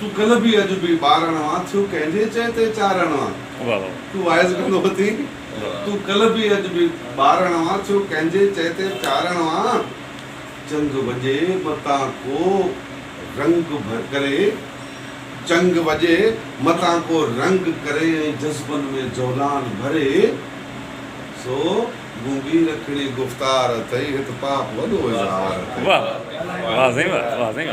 تون ڪلهه به اڄ به ٻارڻ وان ٿيو ڪنهن جي چئي تي چارڻ وان تون واعظ ڪندو اٿين تون ڪلهه به اڄ به ٻارڻ وان ٿيو ڪنهن جي چئي تي چارڻ وان چنگ وڄي متان ڪو رنگ ڪري چنگ وڄي متان ڪو رنگ ڪري ۽ جذبن ۾ جولان ڀري سو گونگي رکڻي گفتار اٿئي هت پاپ وڏو اظهار اٿئي.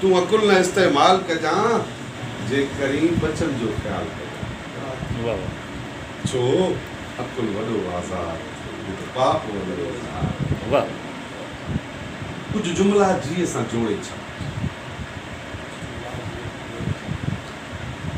تون عقل نه استعمال ڪجان، جي ڪرين ٻچن جو خيال ڪجان. ڇو عقل وڏو آزار، وڌ پاپ ولد اظهار. ڪجهه جملا جيء سان جوڙي ڇڏ.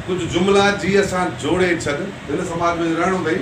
ڪجهه جملا جيء سان جوڙي ڇڏ. هن سماج ۾ رهڻو اٿئي.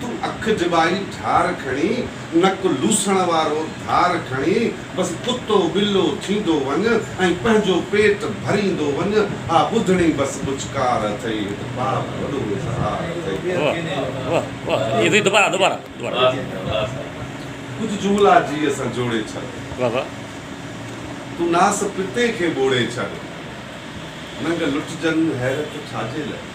تون اک جبائي ڍار کڻي، نڪ لوسڻ وارو ڌار کڻي، بس ڪتو ٻلو ٿيندو وڃ ۽ پنهنجو پيٽ ڀريندو وڃ، آ ٻڌڻي بس ٻچڪار اٿئي، هت پاپ وڏو اظهار اٿئي. ڪجهه جملا جيء سان جوڙي ڇڏ. تون ناس پتي کي ٻوڙي ڇڏ. ننگ لٽجن حيرت ڇاجي لئي.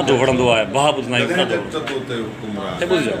ادو وڙهندو آهي باه ٻڌندا آهيون ادو وڙهندو آهي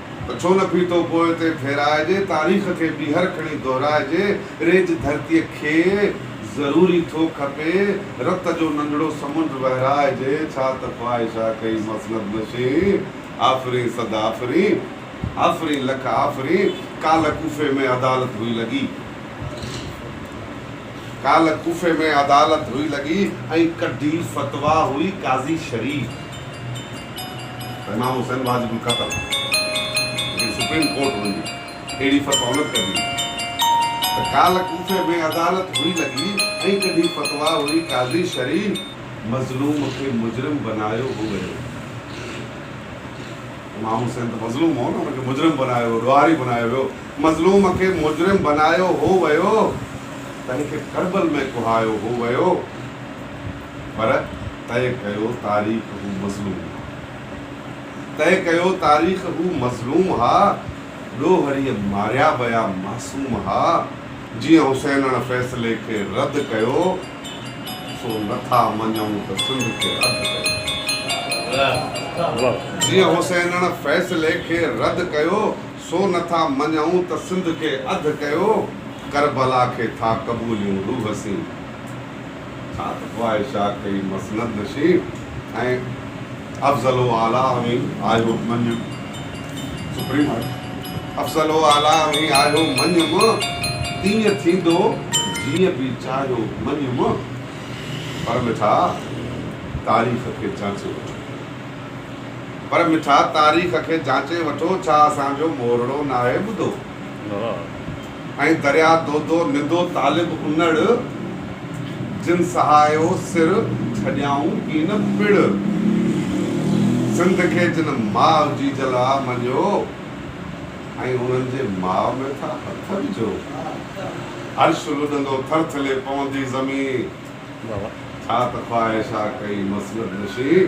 ته ڇو نه ڦيٿو پوء تي ڦيرائجي، تاريخ کي ٻيهر کڻي دهرائجي، ريج ڌرتيء کي ضروري ٿو کپي، رت جو ننڍڙو سمنڊ وهرائجي، ڇا ته خواهش آ ڪئي مصلب نشين، آفرين صد آفرين، آفرين لک آفرين، ڪالهه ڪوفي ۾ عدالت هئي لڳي، ڪالهه ڪوفي ۾ عدالت هئي لڳي، ۽ ڪڍي فتويٰ هئي قاضي شريف. امام حسين واجب القتل جيڪڏهن سپريم ڪورٽ هن جي اهڙي فتويٰ الٽ ڪندي ته ڪالهه ڪوفي ۾ عدالت هئي لڳي ۽ ڪڍي فتويٰ هئي قاضي شرعي مظلوم کي مجرم بنايو هو ويو امام حسين ته مظلوم هو نه ان کي مجرم بنايو ويو ڏوهاري بنايو ويو مظلوم کي مجرم بنايو هو ويو تنهن کي ڪربل ۾ ڪهايو هو ويو. پر طئي ڪيو تاريخ هو مظلوم ها. طئي ڪيو تاريخ هو مظلوم ها. ڏوهريء ماريا ويا معصوم ها. جيئن حسينڻ فيصلي کي رد ڪيو، سو نه ٿا مڃون ته سنڌ کي اڌ ڪيو. جيئن حسينڻ فيصلي کي رد ڪيو، سو نه ٿا مڃون ته سنڌ کي اڌ ڪيو. ڪربلا کي ٿا قبوليون روح سين. ڇا ته خواهشات ڪئي مسند نشين ۽ افضل و اعليٰ اوهين آهيو مڃ سپريم آهي افضل و اعليٰ اوهين آهيو مڃ م تيئن ٿيندو جيئن به چاهيو مڃ م پر مٺا تاريخ کي جانچي وٺو پر مٺا تاريخ کي جانچي وٺو ڇا اسان جو مورڙو ناهي ٻڌو. ۽ دريا دودو ندو طالب انڙ، جن سهايو سر ڇڏيائون ڪين پڙ. سنڌ کي جن ماء جي جلا مڃيو، ۽ انهن جي ماء ۾ ٿا هٿ وجهو. عرش لڏندو ٿرٿلي پوندي زمين، ڇا ته خواهش آ ڪئي مسند نشين.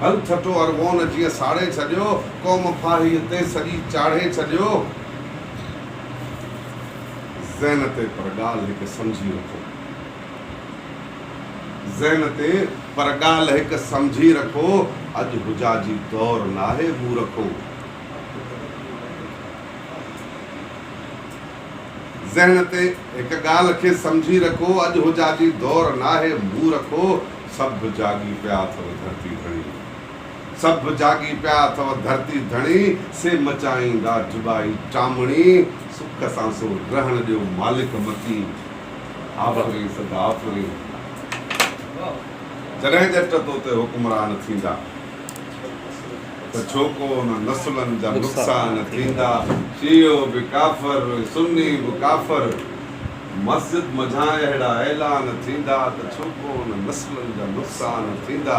ڀل ٺٽو ارغون جيئن ساڙي ڇڏيو، قوم ڦاهيء تي سڄي چاڙهي ڇڏيو. ذهن تي پر ڳالهه هڪ سمجهي رکو. ذهن تي پر ڳالهه هڪ سمجهي رکو، اڄ حجاجي دور ناهي مورکو. ذهن تي هڪ ڳالهه کي سمجهي رکو، اڄ حجاجي دور ناهي، مون رکو، سڀ جاڳي پيا اٿو ڌرتي ڌڻي، سڀ جاڳي پيا اٿو ڌرتي ڌڻي، سي مچائيندا جبائي چامڻي، سک سان سو رهڻ ڏيو مالڪ مڪين، آفرين سدا آفرين، جڏهن ڄٽ تو تي حڪمران ٿيندا. ته ڇو ڪو انهن نسلن جا نقصان ٿيندا، شيعو به ڪافر، سني به ڪافر، مسجد منجهان اهڙا اعلان ٿيندا ته ڇو ڪو انهن نسلن جا نقصان ٿيندا،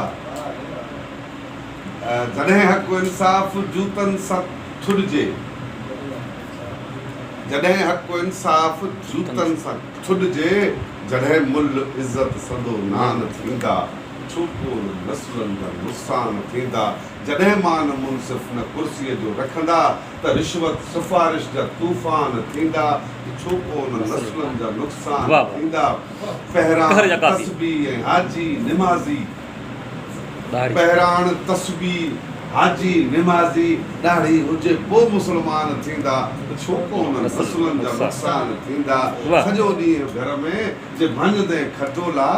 جڏهن حق و انصاف جوتن سان ٿڏجي، جڏهن حق و انصاف جوتن سان ٿڏجي، جڏهن ملھ عزت سندو نان ٿيندا. ڇوڪون نسلن جا نقصان ٿيندا جڏهن مان منصف نه ڪرسي جو رکندا ته رشوت سفارش جا طوفان ٿيندا ڇوڪون نسلن جا نقصان ٿيندا پهراڻ تسبيح ۽ حاجي نمازي پهراڻ تسبيح حاجي نمازي ڏاڙهي هجي پو مسلمان ٿيندا ڇوڪون نسلن جا نقصان ٿيندا سڄو ڏينهن گهر ۾ جي ڀڃدين کٽولا.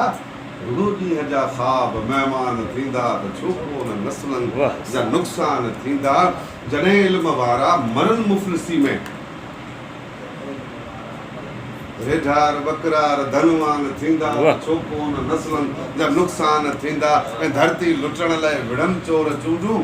رڳو ڏينهن جا خواب مهمان ٿيندا ته ڇو ڪونه نسلن جا نقصان ٿيندا جڏهن علم وارا مرن مفلسي ۾. ريڍار ٻڪرار ڌنوان ٿيندا ته ڇو ڪونه نسلن جا نقصان ٿيندا ۽ ڌرتي لٽڻ لئه وڙهن چور چونڊون.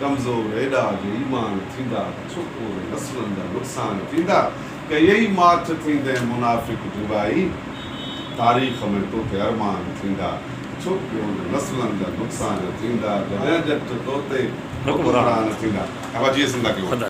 ڪمزور ايڏا جو ايمان ٿيندا ته ڇپور ۽ نسلن جا نقصان ٿيندا ڪيئي ماٺ ٿيندين منافق جوڳائي تاريخ ۾ توتي ارمان ٿيندا ڇپور ۽ نسلن جا نقصان ٿيندا جڏهن ڄٽ توتي حڪمران ٿيندا.